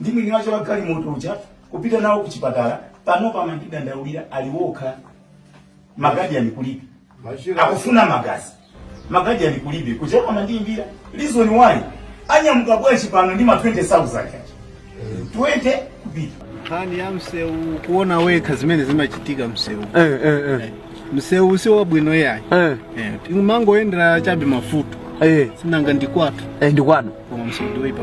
ndi mwini wake wa galimoto uja kupita nawo kuchipatala panopo amadandaulira ali wokha magadiyani kulibe Machira. akufuna magazi magadiyani kulibe kuchipatala amandiimbira reason why anyamuka bwanji pano ndi ma 20000 aja 20 kupita nkhani ya msewu kuona wekha zimene zimachitika msewu Eh, eh, eh. msewu si wabwino yayi Eh, timangoyendera chabe mafuta eh. sinanga ndikwatu Eh, ndi kwanu koma msewu ndiwoipa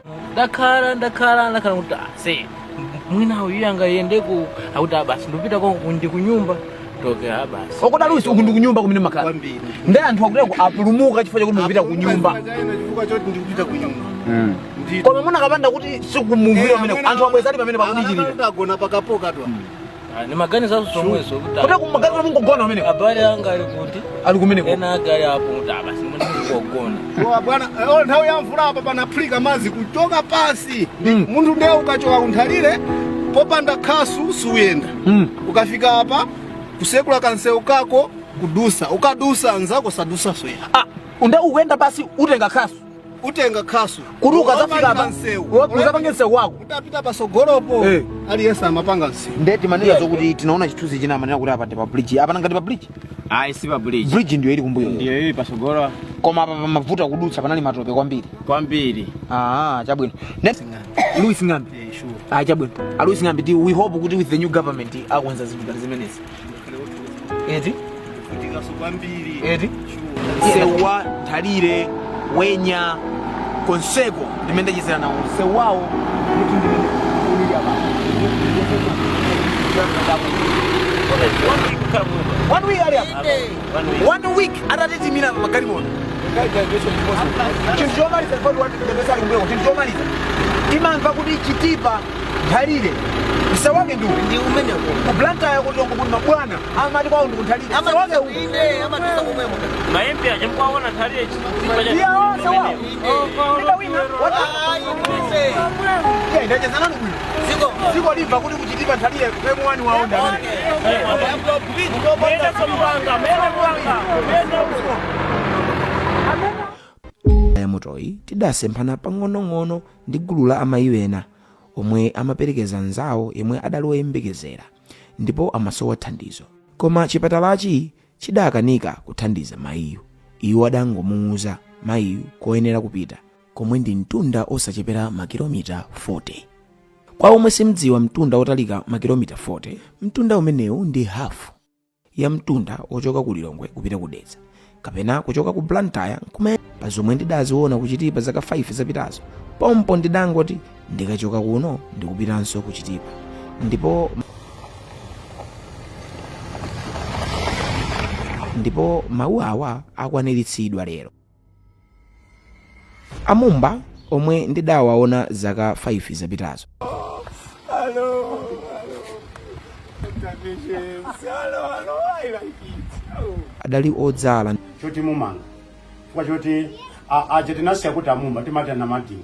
ndakhala ndakhala ndakhala kuti ah, se mwina iye angayende ku akuti ah, basi ndipita kwa ndi kunyumba toke ah, basi wakuda lusi uku ndi kunyumba kumene makhala kwambiri ndi anthu akuda ku apulumuka chifukwa chakuti ndikupita kunyumba Ndikayenda chifukwa choti ndikupita kunyumba Ndito. koma muna akapanda kuti sikumumvira pamene anthu abwezali pamene pakuti chilira agona pakapoka twa Ah, ni maganizo zomwezo kuti kuti kumaganiza mungogona umeneko abale anga ali kuti ali kumeneko ena ake ali apo kuti abasi muli mungogona A bwana eh, oh, nthawi ya mvula apa panaphulika madzi kuchoka pasi Mm. munthu ndiye ukachoka kunthalire popanda khasu suyenda Mm. ukafika apa kusekula kansewu kako kudusa ukadusa anzako sadusa soya Ah, ndiye ukuyenda basi utenga khasu utenga khasu kuti ukazafika apa uzapange msewu wako ukapita pasogolopo Eh. aliyense amapanga msewu nde timanena zokuti tinaona chithunzi china amanena kuti apa ndi pa bridge apa nangati pa bridge ayi si pa bridge bridge ndiyo ili kumbuyo ndiyo ili pasogolo koma apa pamavuta kudutsa panali matope kwambiri kwambiri ah chabwino Ne- louis ng'ambi Eh, sure. ah chabwino a louis ng'ambi ti we hope kuti with the new government akonza zinthu ngati zimenezi eti kutingaso kwambiri eti msewu wa nthalire wenya konseko ndimene ndachezera nawo msewu wawo kuti ndikuuya one week ali apa one week atatitimira pa magari mono chinthu chomaliza chifukwa tiwatitembesa ali mbweko chinthu chomaliza timamva kuti chitipa nthalire msawake ndi ndi umene ku blantyre ku lilongwe kuti mabwana amati kwawo ndi kunthalire msawake uku inde amatiza kumwe muka maembe aja mkwaona nthalire chitipa cha iya onse wawo ndi wina wata ayi ndise iya ndachezana ndi bwino ziko dziko limve kuti kuchitipa nthalire m1 wawo ndi amene muyenda somupanga muyenda kupanga muyenda uko yamotoyi tidasemphana pang'onong'ono ndi gulu la amayi ena omwe amaperekeza mnzawo yemwe adali woyembekezera ndipo amasowa thandizo koma chipatalachi chidakanika kuthandiza mayiyu iwo adangomuwuza mayiyu koyenera kupita komwe ndi mtunda osachepera makilomita 40 kwa omwe simdziwa mtunda otalika makilomita 40 mtunda umenewu ndi hafu ya mtunda wochoka ku lilongwe kupita ku dedza kapena kuchoka ku blantyre nkumene pa zomwe ndidaziona kuchitipa zaka 5 zapitazo pompo ndidangoti ndikachoka kuno ndikupitanso kuchitipa ndipo ndipo mawu awa akwaniritsidwa lero amumba omwe ndidawaona zaka 5 zapitazo Hello. Hello, hello, I like it. Oh. adali odzala choti timanga chifukwa choti a- aja tinasiya kuti amumba timati anamadini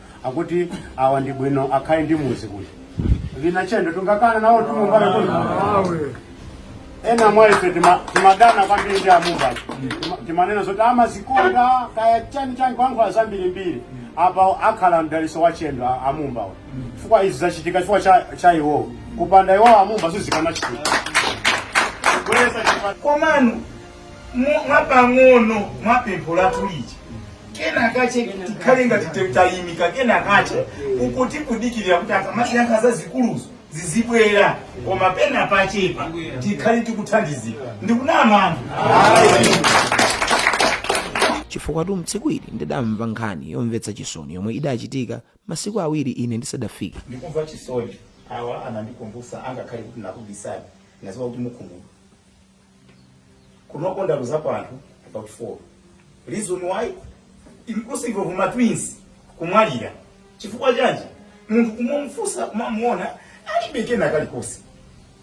akuti awa ndi bwino akhale ndi muzi kuno vina chendo tungakana nawo tumumbale kuno ena mwa ife tima- timadana kwambiri ndi amumbayo Tima- timanena zoti amazikonda kaya chani chani kulankhula zambirimbiri apa akhala mdaliso wa chendo a- amumbawo chifukwa izi zachitika chifukwa cha, cha iwowo kupanda iwowo amumba sizikanachitika kubweresa chitukuko komano Mu- mwapang'ono mwa pempho lathu lija kena kache tikhale ngati te- tayimika kena kache uku tikudikirira kuti akamatiyankha zazikuluzo zizibwera koma pena pachepa tikhale tikuthandizika ndikunama anthu chifukwatu mtsiku ili ndidamva nkhani yomvetsa chisoni yomwe idachitika masiku awiri ine ndisadafike ndikumva chisoni awa anandikumbutsa angakhale kuti nakubisani naziwa kuti mukhumudwa kuno tinaluzapo anthu about four recently inclusive of ma twins kumwalira chifukwa chanji munthu kumumfusa kumamuona alibe kena kalikonse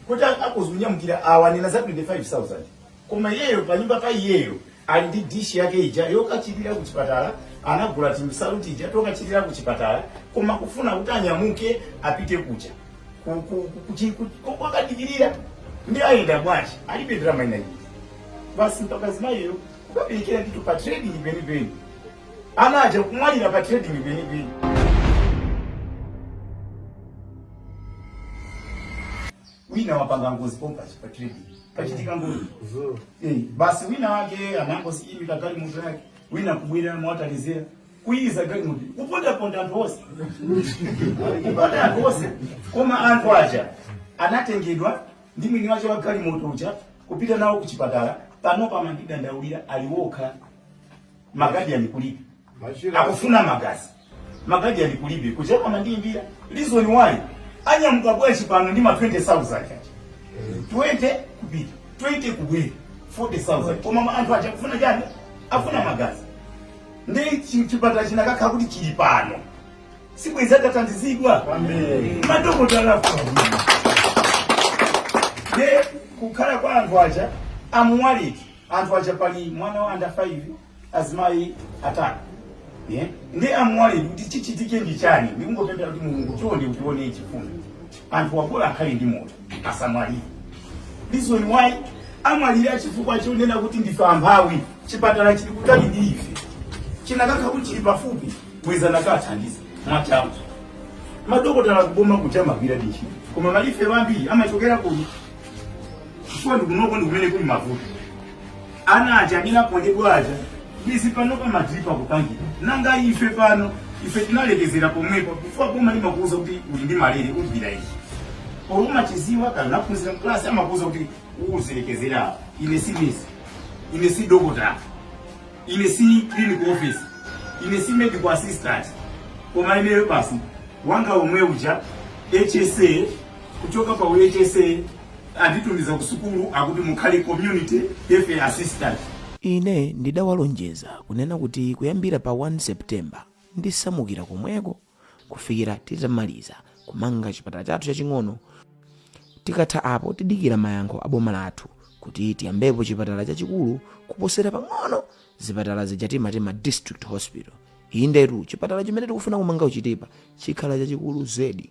kuti akadzanyamukira awa nena za 25000 koma iyeyo panyumba pa iyeyo Ali ndi dish yake ija yokachilira ku chipatala, anagula timsalu tija tokachilira ku chipatala, koma kufuna kuti anyamuke apite kuja ku- ku- ku- kuchi- ku- ku- kwakadikirira ndi ayenda bwanji alibe ndalama ina iliyi basi mpaka mzimayiyo kukaberekera ndithu pa trading penipeni ana aja kumwalira pa trading penipeni wina wapanga ngozi pompa apa pa trading pachitika ngozi eh, basi wina wake anangoziimika galimoto yake wina kubwera mwataliziro kuyiza galimoto kupondaponda anthu onse kuponda anthu onse koma anthu aja anatengedwa ndi mwini wache wa galimoto uja kupita nawo kuchipatala panopa amangodandaulira ali wokha magadiyani kulibe akufuna magazi magazi ali kulibe kucheka amandiimbira reason why anyamuka bwanji pano ndi ma 20000 aja 20 kupita 20 kubwera 40000 koma ma- anthu aja akufuna chani akufuna magazi ndi chi- chipatala chinakakhala kuti chili pano sibwenzi atathandizidwa madokotala akufuna nde kukhala kwa anthu aja amwalira anthu aja pali mwana wa under 5 azimayi atatu yeah. ndi amwali kuti chichitike ndi chani ndikungopemphera kuti mulungu chonde utione chifundo anthu awa bola akhale ndi moyo asamwalire reason why amwalira chifukwa chonena kuti ndife amphawi chipatala chili kutali ndi ife chinakakhala kuti chili pafupi bwezi atathandizidwa mwachangu madokotala kuboma kuja amagwiradi ntchito koma malifa ambiri amachokera kuno chifukwa kunoko ndikumene kuli mavuto Ana aja amene aphunzirapo aja bwezi pano akumadzipangira nanga ife pano ife tinalekezera pomwepo chifukwa boma limakuuza kuti uli ndi malire ugwira ichi koma umachiziwa kuti unaphunzira mklasi amakuuza kuti uzilekezera apa ine si nesi ine si dokotala ine si clinical officer ine si medical assistant koma ineyo bwana wanga omwe uja hsa kuchoka pa hsa anditumiza ku sukulu akuti mukhale community health assistant ine ndidawalonjeza kunena kuti kuyambira pa 1 september ndisamukira komweko kufikira titamaliza kumanga chipatala chathu chaching'ono tikatha apo tidikira mayankho a boma lathu kuti tiyambepo chipatala chachikulu kuposera pang'ono zipatala zija timati ma district hospital indetu chipatala chimene tikufuna kumanga kuchitipa chikhala chachikulu zedi